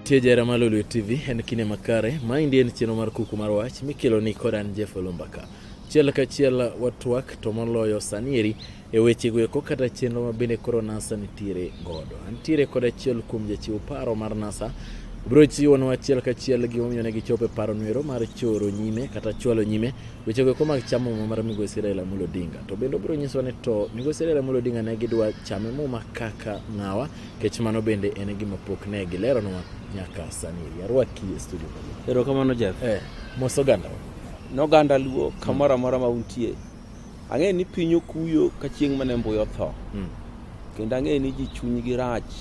Tie jara ma Lolwe TV en kine makare. Maendi en chenro mar kuku mar wach mikelo ni kod an Jeff Olumbaka. Chiel ka chiel watwak to moloyo sanieri e weche goeko kata chenro ma bende koro NASA nitiere godo. Antiere kod achiel kuom jachiw paro mar NASA biro chiwonwa achiel ka chiel gimomiyo ne gichopo e paro nwero mar choro nyime kata chwalo nyime weche goeko mag chamo muma mar migosi Raila Amolo Odinga. To bende obiro nyisowa ni to migosi Raila Amolo Odinga ne gidwa chame muma kaka ng'awa Kech mano bende en gima pok ne gileronwa nyaka sani. Yarwaki e studio. Ero kamano Jeff. Eh, mos oganda. Noganda luo kamora mora ma untie. Ang'e ni piny okuyo ka chieng' mane mbuyo tho. Mm. Kendo ang'e ni ji chuny gi rach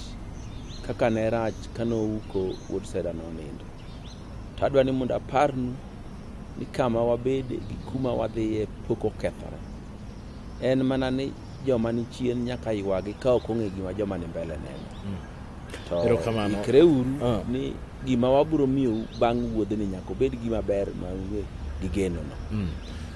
kaka ne rach kane ouko wuod seda no nindo. To adwa ni mondo aparnu ni kama wabede gi kuma wadhiye pok okethore. En mana ni joma ni chien nyaka ywagi ka ok ong'e gima joma ni mbele neno mm. to Erokamano. ikreuru Ah. ni gima wabiro miyou bang' wuodhni nyaka obed gima ber ma unge gi genono Mm.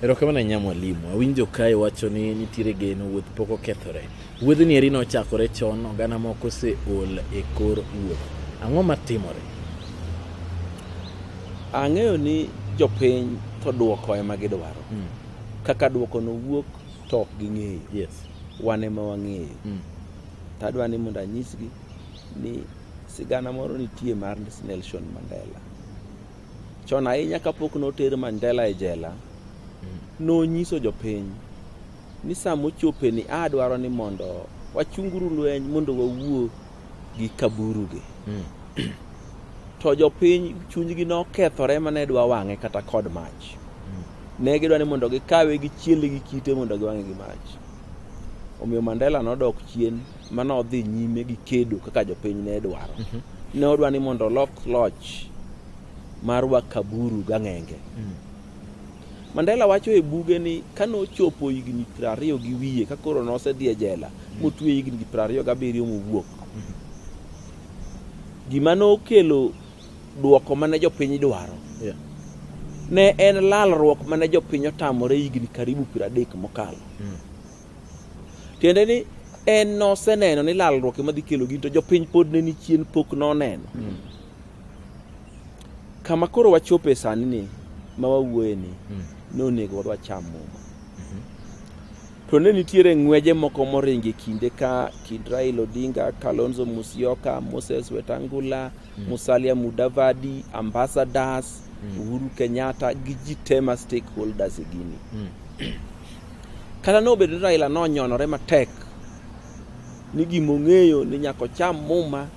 erokamano ahinya mwalimu awinjo kae wacho ni nitiere geno wuoth pok okethore wuodhni eri nochakore chon oganda moko oseol e kor wuoth ang'o matimore ang'eyo ni jopiny to dwoko ema gidwaro Mm. kaka dwoko nowuok to ok ging'eyo yes wan ema wang'eyo mm. to adwa ni mondo anyisgi ni sigana moro nitie mar Nelson Mandela chon ahinya kapok noter Mandela e jela mm. nonyiso jopiny ni sama ochopeni adwaro ni mondo wachunguru lweny mondo wawuo gi kaburugi mm. to jopiny chunygi nokethore mane dwa wang'e kata kod mach mm. ne gidwa ni mondo gikawe gi chiele gi kite mondo giwang'e gi mach omiyo mandela nodok chien mane odhi nyime gi kedo kaka jopiny ne dwaro mm -hmm. ne odwa ni mondo olok loch mar wakaburu gang'enge mm. Mandela wacho e buge ni ka nochopo higni piero ariyo gi wiye ka koro nosedhi e jela motwe higni gi piero ariyo gabiriyo mowuok gima nokelo duoko mane jopiny dwaro Yeah. ne en lalruok mane jopiny otamore higni karibu piero adek mokalo Mm. tiende ni en noseneno ni lalruok ema dhi kelo gin to jopiny pod ne ni chien pok noneno Mm. Kama koro wachopo e sani ni ma wawuoye ni mm. nonego wadwa cham muma mhm. to ne nitiere ng'weje moko moringo e kinde ka kind Raila Odinga, Kalonzo Musyoka, Moses Wetangula, mm. Musalia Mudavadi, Ambassadors, mm. Uhuru Kenyatta gi ji te ma stakeholders e gini. Mm. Kata nobedo ni Raila nonyonore matek ni gimong'eyo ni nyako cham muma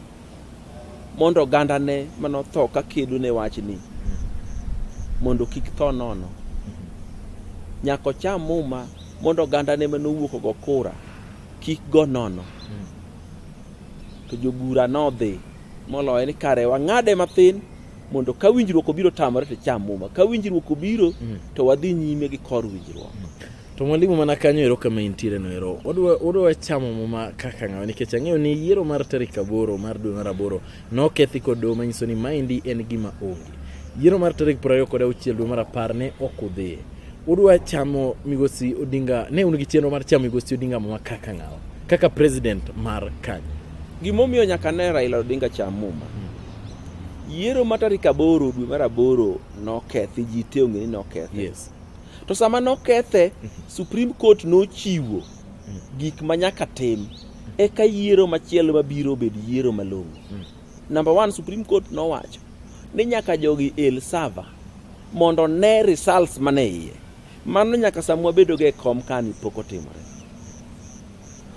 mondo ogandane manotho ka kedo ne wachni mondo kik tho nono nyaka ocham muma mondo ogandane manowuok ogo kura kik go nono to jobura nodhi moloye ni kare wang'ade mathin mondo ka winjruok obiro tamore to cham muma ka winjruok obiro to wadhi nyime gi kor winjruok To mwalimu mana kanyo ero kama intiere no ero. Odwa odwa chamo muma kaka ngawa nikech ang'eyo ni yiero mar tarik aboro mar dwe mar aboro nokethi kod doho manyiso ni maendi en gima onge. Yiero mar tarik piero ariyo kod auchiel dwe mar apar ne ok udhiye. Udwa chamo migosi Odinga ne un gi chenro mar chamo migosi Odinga muma kaka ngawa kaka president mar kanyo. Gimomiyo nyaka ne Raila Odinga cham muma. Yiero ma tarik aboro dwe mar aboro nokethi, ji te ong'e ni nokethi. Yes. To sama nokethe, Supreme Court nochiwo gik ma nyaka tim eka yiero machielo mabiro obed yiero malong'o. Number one, Supreme Court nowacho ni nyaka jogi el sava mondo one results mane iye. Mano nyaka sama wabedogo e kom kani pok otimore.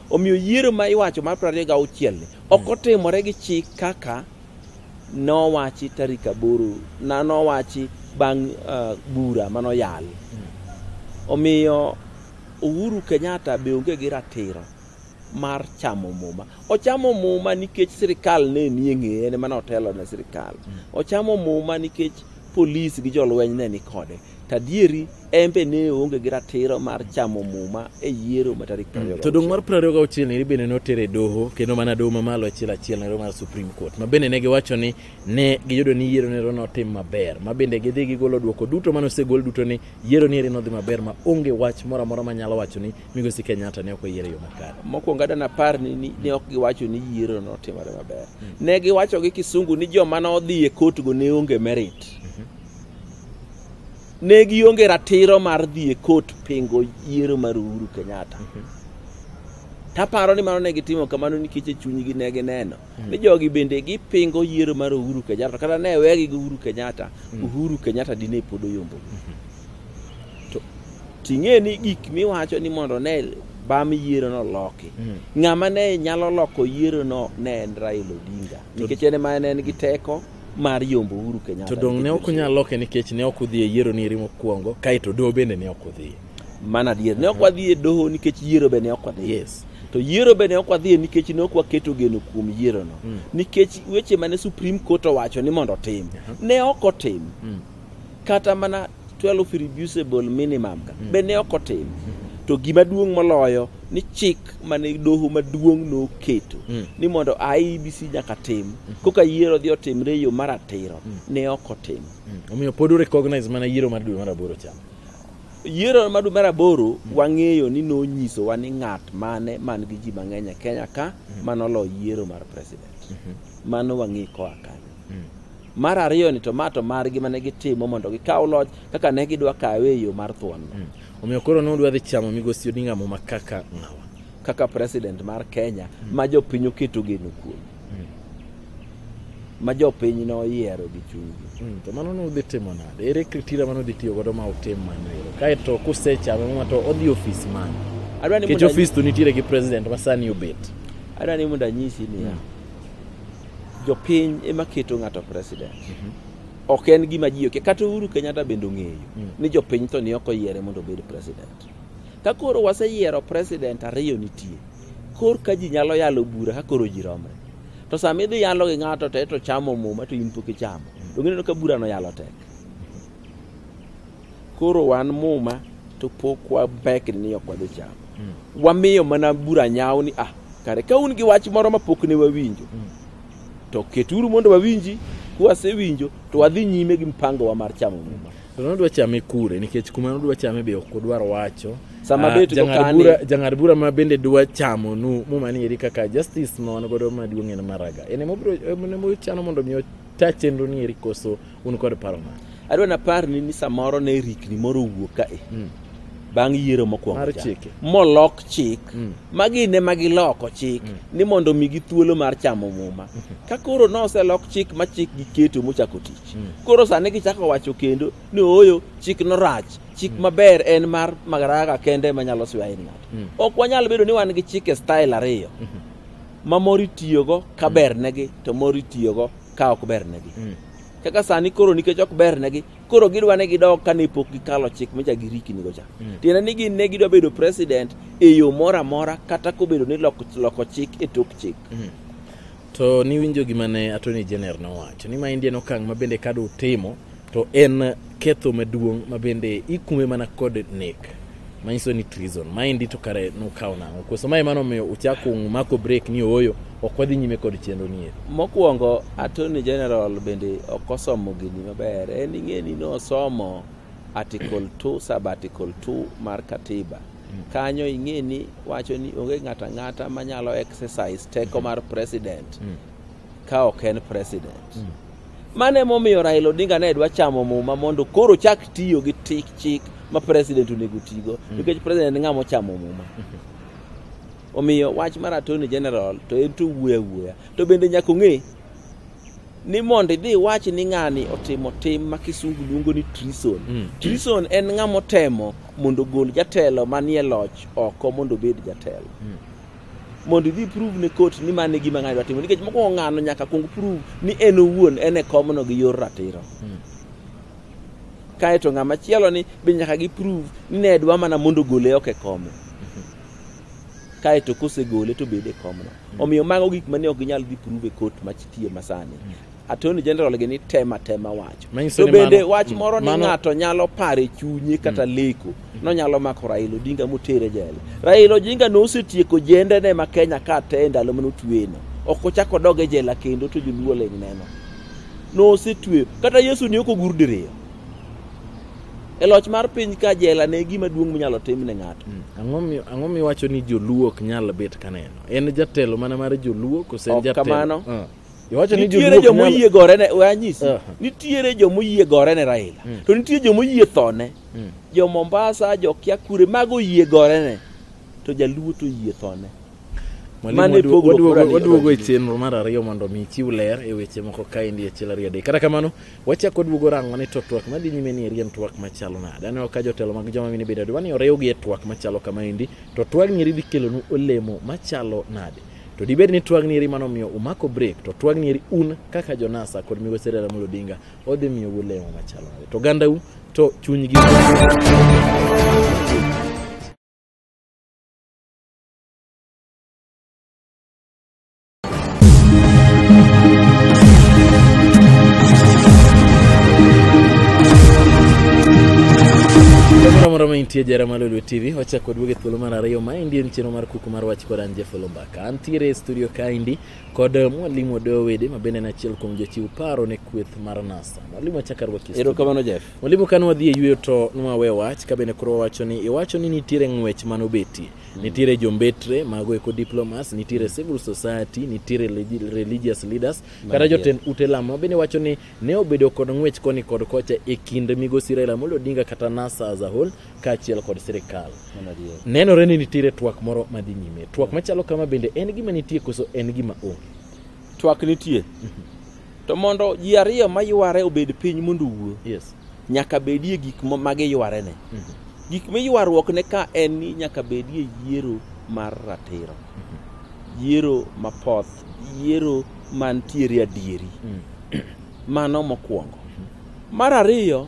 Omiyo yiero ma iwacho mar 26 ni ok otimore gi chik kaka nowachi tarik aboro na nowachi bang' uh, bura manoyal omiyo Uhuru Kenyatta be onge gi ratiro mar chamo muma ochamo muma nikech sirikal ne nie ng'eye ne mane otelo ne sirikal ochamo muma nikech polis gi jolweny ne ni kode tadieri embe ne onge gi ratiro mar chamo muma e yiero ma tarik mm. to dong' mar prariyo ga auchiel niri bende notere doho kendo mana doho mamalo achiel achiel nero mar supreme court ma bende ne giwacho ni ne giyudo ni yiero nero notim maber ma bende gidhi gigolo dwoko duto mane osegol duto ni yiero neri nodhi maber ma onge wach moro amora ma nyalo wacho ni migosi kenyatta ne ok oyiero e yo makare mokwongo adana par ni ne ok giwacho ni yiero notimore maber mm. ne giwacho gi kisungu ni joma nodhi e kotgo ne onge merit mm. ne gionge ratiro mar dhi e kot pingo yiero mar Uhuru Kenyatta. Taparo ni mano ne gitimo kamano nikech e chunygi ne gineno ni jogi bende gipingo yiero mar Uhuru Kenyatta kata ne wegi gi Uhuru Kenyatta, Uhuru Kenyatta dine pod oyombo. To ting'e ni gik miwacho ni mondo ne bam yiero no loki. Ng'ama ne nyalo loko yiero no ne en Raila Odinga nikech en ema ne en gi teko mar yombo Uhuru Kenyatta. To dong' ne ok unyal loke nikech ne ok udhi e yiero ni eri mokwongo, kaeto doho bende ne ok udhi. Mana adier, ne ok wadhi e doho nikech yiero bende ne ok wadhi. Yes. To yiero bende ne ok wadhi e nikech ne ok waketo geno kuom yierono. Mm. Nikech weche mane Supreme Court owacho ni mondo otim, uh-huh. ne ok otim. Mm. Kata mana 12 irreducible minimum ka mm. be ne ok otim mm. to gima duong' moloyo ni chik mane doho maduong' noketo mm. ni mondo IEBC nyaka tim mm. koka yiero dhi otimre e yo mar atiro mm. ne ok otim mm. omiyo pod urecognize mana yiero mar dwe mar aboro cha yiero mar dwe mar aboro mm. wang'eyo ni nonyisowa ni ng'at mane man gi ji mang'eny e kenya ka mm. manoloo yiero mar president mm -hmm. mano wang'e koa kanyo mm. Mar ariyo ni to ma to margi mane gitimo mondo gikaw loch kaka ne gidwa kawe e yo mar thuon. Omiyo koro ne udwa dhi chamo migosi Odinga Muma kaka ng'awa. kaka president mar Kenya ma jopiny oketo geno kuom ma jopiny noyiero gi chunygi. Mm, to mano nudhi timo nade ere kritira mano dhi tiyo godo ma utim mano ero kaeto kusechame muma to odhi ofis mane Adwa ni nikech mondo ofis to nitiere gi president ma sani obet adwa ni mondo anyisi niya jopiny ema keto ng'ato president mhm. ok en gima ji okia kata Uhuru Kenyatta bende ong'eyo mm. ni jopiny to ni ok oyiere mondo obed president ka koro waseyiero president ariyo nitie kor ka ji nyalo yalo bura ka koro ji romre to sama idhi yalo gi ng'ato to eto chamo muma to in pok ichamo mm. to ng'ineno ka burano yalo tek koro wan muma to pok wabekni ni ok wadhi chamo mm. wamiyo mana bura nyawo ni ah kare ka un gi wach moro ma pok ne wawinjo mm. to keturu mondo wawinji kwasewinjo to wadhi nyime gi mpangowa mar chamo muma to nodwa chame kure nikech kuma nodwa chame be ok odwar wacho sama ah, bet uh, jang'ad bura ma bende dwa chamo nu muma ni eri kaka justice ma wan godo maduong' en maraga en emochano mondo mi ota chenro ni eri koso Un kod paro mane? Adwa naparni ni samoro ne rikni moro owuok kae. Mm. Bang' yiero mokwongo. Mar cha. chike. Molok chik. Mm. Magi ne ma giloko chik Mm. ni mondo omigi thuolo mar chamo muma. Ka koro noselok chik ma chik giketo mochako tich. Mm. Koro sani gichako wacho kendo ni ooyo chik norach. Chik maber en mar Madaraka kende ma nyalo swayo in ng'ato. Mm. Ok wanyal bedo ni wan gi chike style ariyo. Mhm. Ma moro itiyogo ka bernegi to moro itiyogo ka ok bernegi mm. kaka sani koro nikech ok bernegi koro gidwa ni gidog ka ne pok gikalo chik micha girikinigo cha mm. tiende ni gin ne gidwa bedo president e yo moro amora kata kobedo ni loko, loko chik e tok chik mm. to niwinjo gima ne attorney general nowacho ni ma indien okang' ma bende kado utimo To en ketho maduong' ma bende ikume mana kod nek manyiso ni treason maendi to kare nukawo nang'o koso mae mano omiyo uchako mako break ni ooyo ok wadhi nyime kod chenro nie mokwongo attorney general bende ok osomo gini maber en ing'e ni nosomo article 2 sub article 2 mar katiba kanyo ing'e ni wacho ni onge ng'ato ang'ata manyalo exercise teko mar president ka ok en president mm. mano emomiyo raila odinga ne dwa chamo muma mondo koro chak tiyo gi tik chik ma president onego tigo mm. nikech president ng'ama ochamo muma omiyo wach mar attorney general to en to wuoya wuoya to bende nyaka ong'e ni mondo idhi iwach ni ng'ani otimo tim ma kisungu luongo ni trison mm. trison en ng'ama otemo mondo ogol jatelo manie loch oko mondo obed jatelo mm. mondo idhi prove ne court ni mano e gima ng'ani dwa timo nikech mokwongo ng'ano nyaka kuong prove ni en owuon en e komno gi yor ratiro hmm. kae to ng'ama chielo ni be nyaka gi prove ni ne dwa mana mondo gole ok e kome hmm. kae to kosegole to bede e komno hmm. omiyo mago gik mane ok ginyal dhi prove e court machtie masani Attorney General gi ni tem atema wacho. Manyiso To ni bende mano- wach moro ni mano- ng'ato nyalo paro e chunye kata leko nonyalo mako Raila Odinga motere jela. Raila Odinga nosetieko jendene ma Kenya ka te e ndalo mane otweyeno. Ok ochak odog e jela kendo to joluo ling' neno. Nosetweyo. Kata Yesu ne ok ogur diriyo. E loch mar piny ka jela ne gima duong' minyalo tim ne ng'ato. Mm. Ang'o mi- ang'o miwacho ni joluo ok nyal bet kaneno en jatelo mana mar joluo kose en Ok jatelo kamano. Ah. Iwacho ni nitiere joluo joma ok nyal- oyie gore ne we anyisi Aha. nitiere joma oyie gore ne Raila Mm. to nitie joma oyie thone Mm. jo Mombasa jo Kiakure mago oyie gore ne to jaluo to oyie thone Mwalimu, Mane waduo- pogruok waduogo- mora ni- waduogo e chenro mar ariyo mondo mi chiw ler e weche moko kaendi achiel ariyo adek kata kamano wachako waduogo rango ni to twak madhi nyime ni eri en twak machalo nade aneno ka jotelo mag joma mine bende dwa ni oriwgi e twak machalo kamaendi to twagni eri dhi kelonu olemo machalo nade To dibed ni twagni eri mano miyo umako break to twagni eri un kaka Jonasa kod Migo Sera Ramogi Odinga odhi miyo ulemo machalo nade. To gandau to chunygi Moro moro ma intie jara malolwe TV wachako duoge thuolo mar ariyo ma endi en chenro mar kumar wach kod an Jeff Olombaka. Antiere e studio kaendi kod eh, mwalimu Odeyo Wede ma bende en achiel kuom jochiw paro ne kweth mar NASA. Mwalimu achaka rwaki. Erokamano Jeff. Mwalimu kane wadhi e yueyo to nwawe wach ka bende koro wawacho ni iwacho ni nitiere ng'wech ma nobetie. Mm. Nitiere jombetre mago eko diplomas, nitiere mm. civil society, nitiere religious leaders, kata jotend ute lamo bende wacho ni ne obedo kod ng'wech koni kod kocha e kind migosi Raila Amolo Odinga kata NASA as a whole kaachiel kod sirkal. Nenore ni nitiere twak moro madhi nyime. Twak machalo kama bende en gima nitie koso en gima onge? Twak nitie. Mhm. To mondo ji ariyo mayware obed piny mondo owuo, yes. nyaka bedie gik ma giywarene. Mm -hmm. Gik miywaruokne ka en ni nyaka bedie yiero mar ratiro, mm -hmm. yiero mapoth, yiero mantiere adieri. Mm. Mano mokwongo. Mhm. Mar ariyo,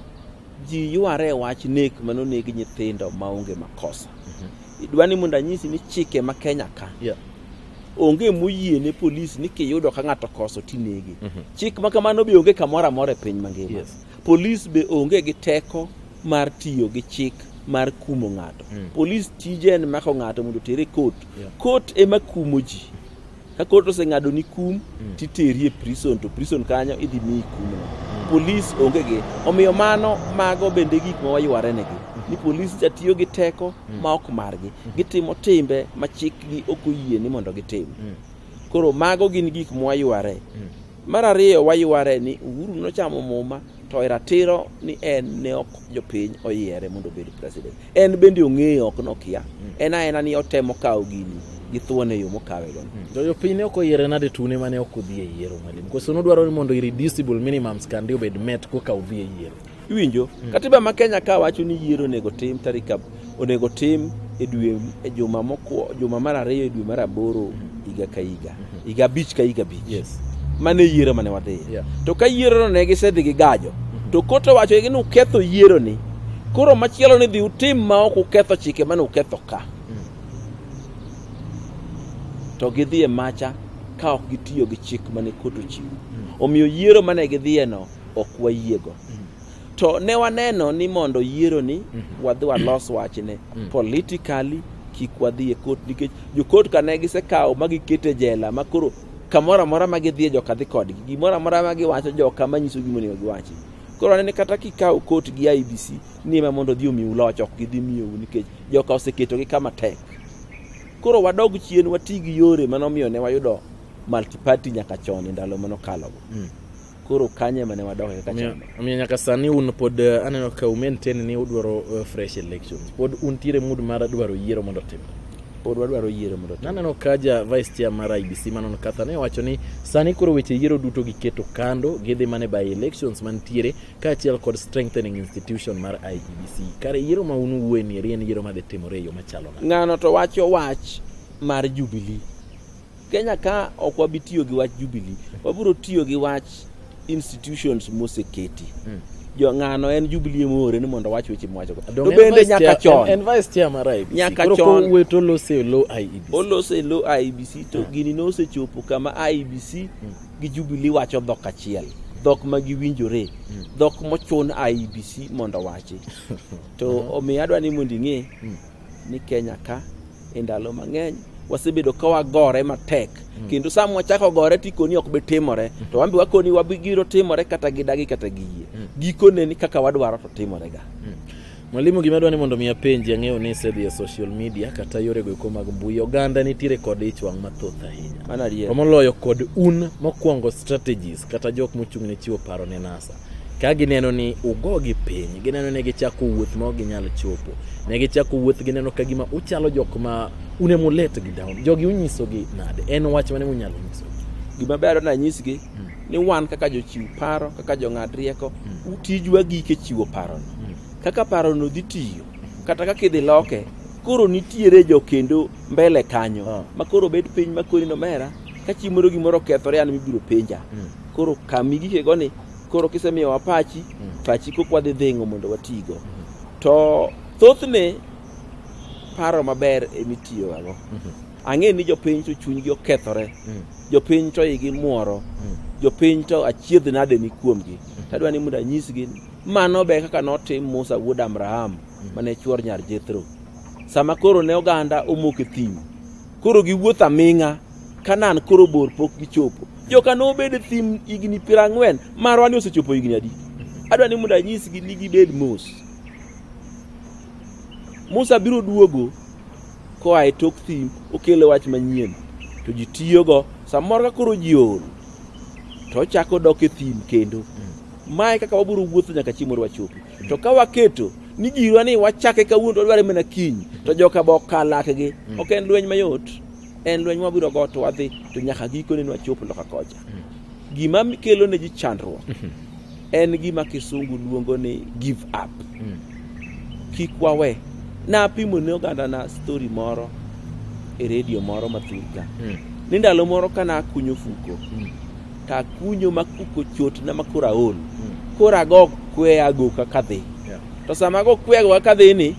ji yware e wach nek ma noneg nyithindo maonge makosa idwa ni mondo anyisi ni chike ma kenya ka Yeah. onge moyie ne polis ni kiyudo ka ng'ato koso tinege Mhm. chik ma kamano be onge kamoro amora e piny mangima Yes. polis be onge gi teko mar tiyo gi chik mar kumo ng'ato Mm. polis tije en mako ng'ato mondo otere kot Yeah. kot ema kumo ji ka kot oseng'ado ni kum mm. titeri e prison to prison kanyo idhi miyi kumno mm. polis onge gi omiyo mano mago bende gik ma waywarenegi mm. ni polis ja tiyo gi teko mm. ma ok margi mm. gitimo timbe ma chikgi ok oyie ni mondo gitim mm. koro mago gin gik mwayware mm. Mar ariyo wayware ni Uhuru nochamo muma to e ratiro ni en ne ok jopiny oyiere mondo obed president. En bende ong'eyo ok nokia. En aena ni otemo kawo gini gi thuon e yo mokawe go. To jopiny ne ok oyiere nade tune mane ok odhi e yiero mwalimu? Koso nodwaro ni mondo irreducible minimum scandi obed met koka odhi e yiero? Iwinjo? Mm. Katiba ma Kenya ka wacho ni yiero onego tim tarik onego tim e dwe e juma mokwo juma mar ariyo e dwe mar aboro mm. higa ka higa. Mm-hmm. Higa abich ka higa abich. Yes. Mane yiero mane wadhi. Yeah. To ka yiero no ne gisedhi gi gajo. Mm-hmm. To koto wacho ni uketho yiero ni. Koro machielo ni dhi utim ma ok uketho chike mane uketho ka. Mm. To gidhi e macha ka ok gitiyo gi chik mane koto chiwo. Mm. Omiyo yiero mane gidhiyeno ok wayiego to ne waneno ni mondo yieroni wadhi walos wachne politically kik wadhi e kot nikech jokot kane gisekawo ma gikete jela ma koro kamoro amora ma gidhi e joka dhi kodgi gimoro amora ma giwacho joka ma nyiso gimonego giwachi koro anene kata kikawo kot gi IBC ni ema mondo odhi omiu loch ok gidhi miyou nikech joka oseketogi kama tek koro wadog chien wati gi yore mane omiyo ne wayudo multiparty nyaka chon e ndalo mane okalogo koro kanye mane wadoke kaka chama omiyo nyaka sani un pod eh, aneno ka umaintain ni udwaro eh, fresh elections pod untiere mood mar dwaro yiero mondo otim pod wadwaro yiero mondo otim naneno ka ja vice chair mar IBC Manon Katha ne wacho ni sani koro weche yiero duto giketo kando gidhi mane by elections mantiere kaachiel kod strengthening institution mar IBC e kare yiero ma un uwuoye ni en yiero madhi timore e yo machalo ng'ano to wacho wach mar Jubilee Kenya ka ok wabi tiyo gi wach Jubilee, wabiro tiyo gi wach institutions moseketi. Mm. Jo ng'ano en Jubilee moore ni mondo wach weche mwacho. To bende nyaka chon. En vice chair mar IBC. Nyaka chon. Koro wueto olose lo IBC. Olose lo IBC to hmm. gini nosechopo kama IBC mm. gi Jubilee wacho dhok achiel. Mm. dhok ma giwinjore mm. dhok mochun IBC mondo wachi to omiyo adwa ni mondo ing'e mm. ni Kenya ka e ndalo mang'eny wasebedo ka wagore matek mm. kendo sama wachako gore to ikoni ok bi timore mm. to wambi wakoni wabigiro timore kata gidagi kata giyie mm. gikone ni kaka wadwaro to timore ga mm. Mwalimu, gima dwani mondo mi apenji ang'eyo ni isedhi e social media kata yore goeko mag mbui oganda nitiere kod ich wang' mathoth ahinya to moloyo kod un mokwongo strategies kata jok mochung' ne chiwo paro ne NASA ka gineno ni ugogi piny gineno ni gichako wuoth ma ok ginyal chopo ne gichako wuoth gineno ka gima uchalo jok ma une mulet gi down jogi unyisogi nade en wach mane munyalo nyisogi gima ber nanyisgi Mm. ni wan kaka jochiw paro kaka jong'ad rieko Mm. tijwa gike chiwo parono Mm. kaka parono dhi tiyo kata kaka idhi loke koro nitiere jo kendo mbele kanyo Ah. ma koro bet piny ma kori nomera ka chieng' moro gimoro okethore an mibiro penja Mm. koro kami gikego ni koro kisemiyowa pachi mm. pachi kok wadhi dhingo mondo watigo mm. to thothne paro maber emitiyogago mm -hmm. ang'e ni jopiny to chunygi okethore mm. jopiny to igi mworo mm. jopiny to achiedh nade ni kuomgi mm. tadwa ni mondo anyisgi mano be kaka notim musa wuod abraham mm. mane chuor nyar jethro sama koro ne oganda omoko e thim koro giwuotho aming'a Kanan koro bor pok gichopo. Joka nobed e thim higni piero ang'wen, marwa ni osechopo higni adi? Adwa ni mondo anyisgi ni gibed mos. Musa biro duogo koa e tok thim okelo wach manyien to ji tiyogo samoro ka koro ji ool to ochako dok e thim kendo mae kaka wabiro wuotho nyaka chieng' mondo wachopi to ka waketo ni jirwa ni wachake kawuono to wadware mana kiny to joka be okal lakgi ok en lweny mayot en lweny mwabiro go to wadhi to nyaka gikone ne wachop loka kocha gima kelo ne ji chandruok en gima kisungu luongo ni give up kik wawe napimo ne oganda na story moro e redio moro mathurka ni ndalo moro ka nakunyo fuko takunyo makuko chot na makoro aol koro ago kweyago kaka dhi Yeah. to sama ago kweyago kaka dhi ni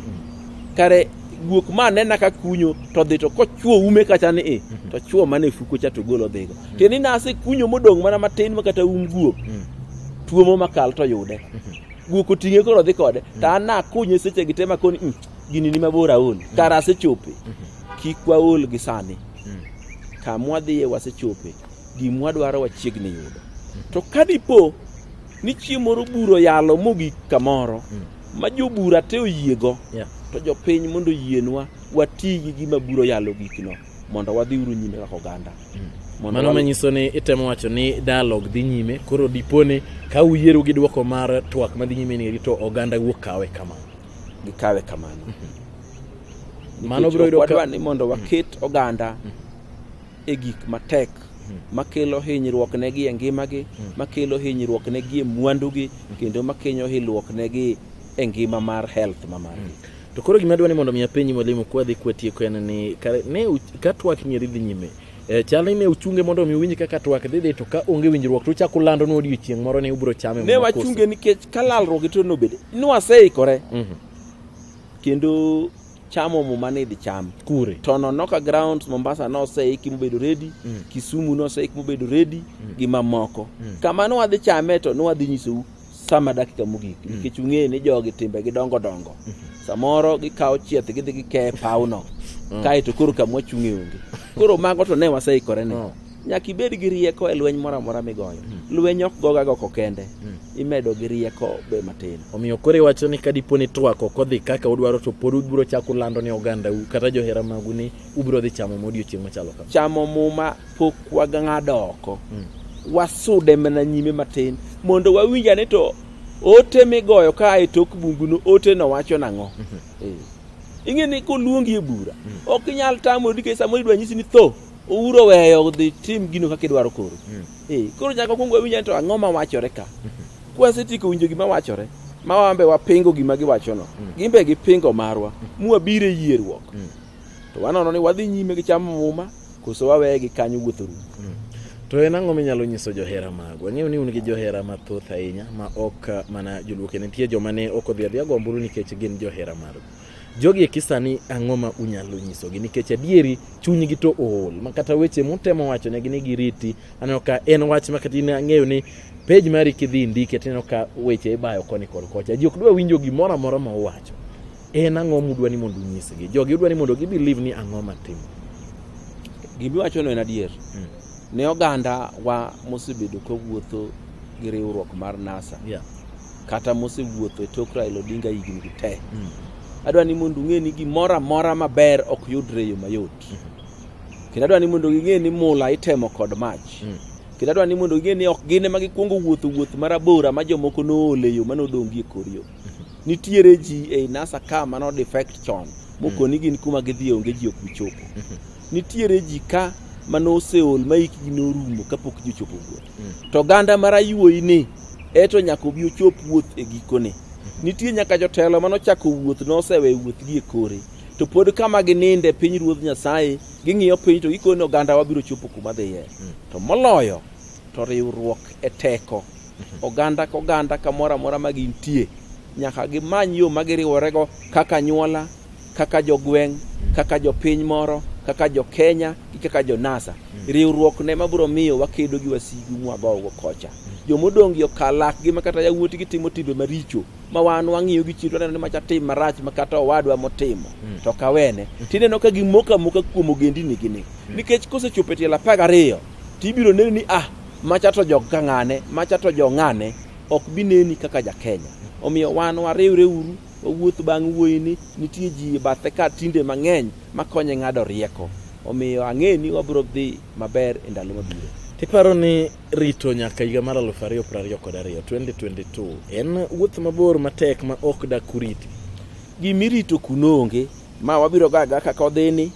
kare guok ma anena ka kunyo to dhi to kochwo ume kacha ni i to chwo mana e fuko cha to golo dhigo tiende ni nase kunyo modong' mana matin ma kata um guok tuomo makal to yude guok oting'e koro dhi kode to an nakunye seche gi te makoni "Mm, gini ni mabor aol kara asechope kik waol gi sani kamwa dhiye wasechope gimwa dwaro wachiegni yudo to kadipo ni chieng' moro buro yalo mogik kamoro ma jobura te oyiego yeah. to jopiny mondo yienwa wati gi gima buro yalo gikno mondo wadhi uru nyime kaka oganda mm. mano manyiso ni itemo wacho ni dialog dhi nyime koro diponi ka uyieru gi dwoko mar twak madhi nyime ni to oganda wuok kawe kamano gikawe kamano mm -hmm. mano biro yudo ka... ni mondo waket mm. oganda mm -hmm. e gik matek hmm. makelo hinyruok negi e ngimagi hmm. makelo hinyruok negi e mwandugi hmm. kendo makenyo hinyruok negi e ngima mar health ma margi hmm. to koro gima dwa ni mondo mi apenji mwalimu kwa dhi kwa tieko en ni ne ka twak nyeri dhi nyime e, chal ni ne uchunge mondo mi uwinj kaka twak dhi dhi to ka onge winjruok to uchako lando ni odiochieng' moro ni ubiro chame ne wachunge nikech ka lalruok to nobede nwaseikore mm -hmm. kendo chamo muma ni idhi cham kure to nonoka grounds mombasa noseiki mobedo redi mm. kisumu noseiki mobedo redi mm. gi mamoko mm. kama nwadhi chame to nwadhi nyisou sama dakika mogik mm. nikech ung'e ni jogi timbe gi dongo dongo mm -hmm. samoro gikawo chieth gidhi gikeye pawno mm. kaeto koro kamwachung'e onge koro mago to ne waseikore ne mm. nyaka ibed gi rieko e lweny moro amora migoyo hmm. lweny ok goga goko kende hmm. imedo gi rieko be matin omiyo koro iwacho ni kadipo ni twak ok odhi kaka udwaro to pod ubiro chako lando ni ogandau kata johera magu ni ubiro dhi chamo ma odiochieng' machalo kama chamo muma pok wang'ado oko hmm. wasude mana nyime matin mondo wawinja ni to ote migoyo ka e tok bunguno ote no wacho nang'o mhm. eh. ing'e ni koluongi e bura ok inyal tamo dike samoro idwa nyisi ni tho ouro weyo dhi tim gino kaka idwaro koro mm. eh, koro nyaka kwongo wawinja to ang'o ma wachore ka mm-hmm. kwasetieko winjo gima wachore ma wambe wapingo gima giwachono mm. gin be gipingo marwa mm. mwabiro e yierruok mm. to wanono ni wadhi nyime gi chamo muma koso waweye gi kanyo wuotho rum mm. to en ang'o minyalo nyiso johera magu ang'eyo ni un gi johera mathoth ahinya ma ok mana joluoke nitie joma ne ok odhi adhiya gomburu nikech gin johera magu jogi eki sani ang'o ma unyalo nyisogi nikech adieri chunygi to ool ma kata weche mutemo wacho negi ni giriti aneno ka en wach ma kata in ang'eyo ni pej mari kidhi indike tineno ka weche ibayo koni kod kocha ji ok dwa winjo gimoro amora ma uwacho en ang'o mudwa ni mondo unyisgi jogi udwa ni mondo gibelieve ni ang'o matimo Gimiwachono en adier. Mm. Ne oganda wa mosebedo ka wuotho gi riwruok mar NASA yeah. kata mosewuotho e tok Raila Odinga higni gi te mm. adwa ni mondo ung'e ni gimoro amora maber ok yudre e yo mayot mm. kendo adwa ni mondo ging'e ni mula itemo kod mach mm. kendo adwa ni mondo ging'e ni ok gin ema gikwongo wuotho wuoth marabora ma jomoko noole yo manodongi e kor yo nitiere ji ei nasa ka mano defect chon mokoni gin kuma gidhi onge ji ok bichopo nitiere ji ka mano oseol ma hikgi norumo kapok ji ochopo wuoth Mm. to ganda mar ayuoyi ni eto nyaka obi ochop wuoth e gikone nitie nyaka jotelo mano chako wuoth nosewe wuothgi e kore to pod kama gininde piny ruodh nyasaye ging'iyo piny to gikone oganda wabiro chopo kuma dhiye to moloyo to riwruok e teko oganda ka oganda kamoro amora ma gintie nyaka gimany yo ma giriworego kaka anyuola kaka jogweng' kaka jopiny moro kaka jokenya gi kaka jonasa riwruok ne mabiro miyo wakedo gi wasigu mwagogo kocha jomodong' gi okal lakgi ma kata yawuotgi timo timbe maricho ma wan wang'iyo gi chiro waneno ni macha tim marach ma kata owadwa motimo to kawene tineno ka gimoko amoka kuom ogendinigini nikech kosechopo e tielo apar gariyo tibiro neno ni ah Macha to jog ka ng'ane, macha to jo ng'ane, ok bi neni kaka Jakenya. Omiyo wan wariwre uru, wawuoth bang' wuoyini, nitie ji e bathe ka tinde mang'eny makonye ng'ado rieko. Omiyo ang'e ni wabiro dhi maber e ndalo mabiro. Iparo ni rito nyaka higa mar aluf ariyo piero ariyo kod ariyo 2022 en wuoth mabor matek ma ok dak uriti? Gimirito kuno onge, ma wabiro gaga kaka odhini,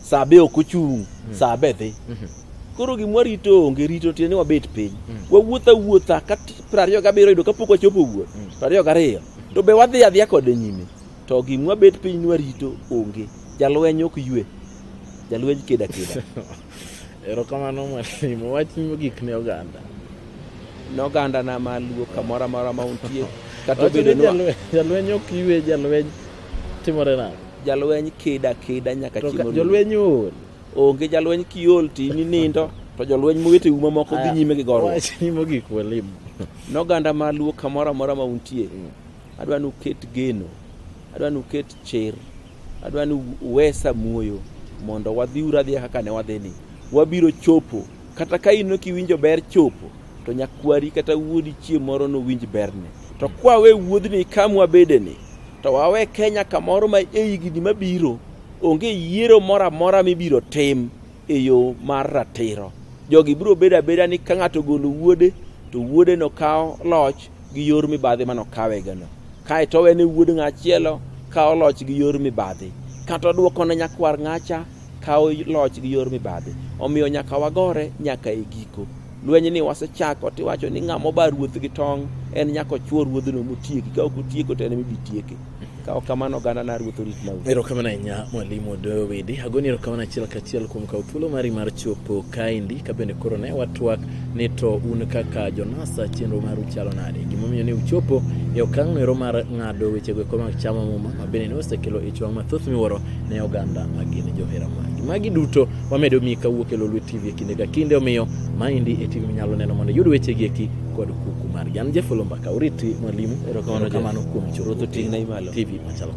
saa be ok ochung' mm. saa be dhi mm -hmm. koro gimwa rito onge rito tiende ni wabet piny mm. wawuotha wuotha ka piero ariyo gabiriyo yudo kapok wachopo wuoth mm. piero ariyo gariyo mm. to be wadhi adhiya kode nyime to gimwa bet piny ni warito onge jalweny ok ywe jalweny keda keda erokamano mwalimu wach mogik ne oganda ne oganda na maluo kamoro amora ma untie kata obedo ni jalweny ok ywe jalweny Timore nang'o? Jalweny keda keda nyaka To chieng' ka- orum. jolweny ool. Onge jalweny kiol ti ni nindo to jolweny mowete uma moko dhi nyime gi gorruok. Wach ni mogik walim. Noganda ma luo kamoro amora ma untie. Adwa ni uket geno. Adwa ni uket chir. Adwa ni uwesa muoyo mondo wadhiuru adhiya kaka ne wadhini. Wabiro chopo Kata ka in ok iwinjo ber chopo, to nyakwari kata wuodi chieng' moro nowinj berne. To kwawe wuodhni ka mwabedeni, to wawe Kenya kamoro ma e higni mabiro onge yiero moro amora mibiro tim e yo mar ratiro. Jogi biro bedo abeda ni ka ng'ato ogolo wuode, to wuode nokaw loch gi yor mibadhi mane okawegano. Kae to owene wuod ng'achielo kawo loch gi yor mibadhi. Kata odwoko ne nyakwar ng'acha kawo loch gi yor mibadhi omiyo nyaka wagore nyaka e giko lweny ni wasechako tiwacho ni ng'ama oba ruoth gi tong' en nyaka ochwo ruodhno motieki ka ok otieko to en mibi tieke ka ok kamano oganda na ruoth orit mau erokamano ahinya mwalimu doyo widi agoni erokamano achiel kachiel kuom kawo thuolo mari mar chopo kaendi ka bende koro ne watwak ni to un kaka jonasa chenro maru chalo nade gimomiyo ne uchopo e okang' noero mar ng'ado wechego eko mag chamo muma ma bende ne osekelo ich wang' mathoth miwuoro ne oganda ma gin johera magi magi duto wamedo miyi kawuok e lolwe tv e kinde ka kinde omiyo maendi e tv minyalo neno mondo iyud wechegi eki kod kuku margi an jefolo mbaka uriti mwalimu Erokamano, Jeff. erokamano kuom Ruoth oting'na i malo. tv machalo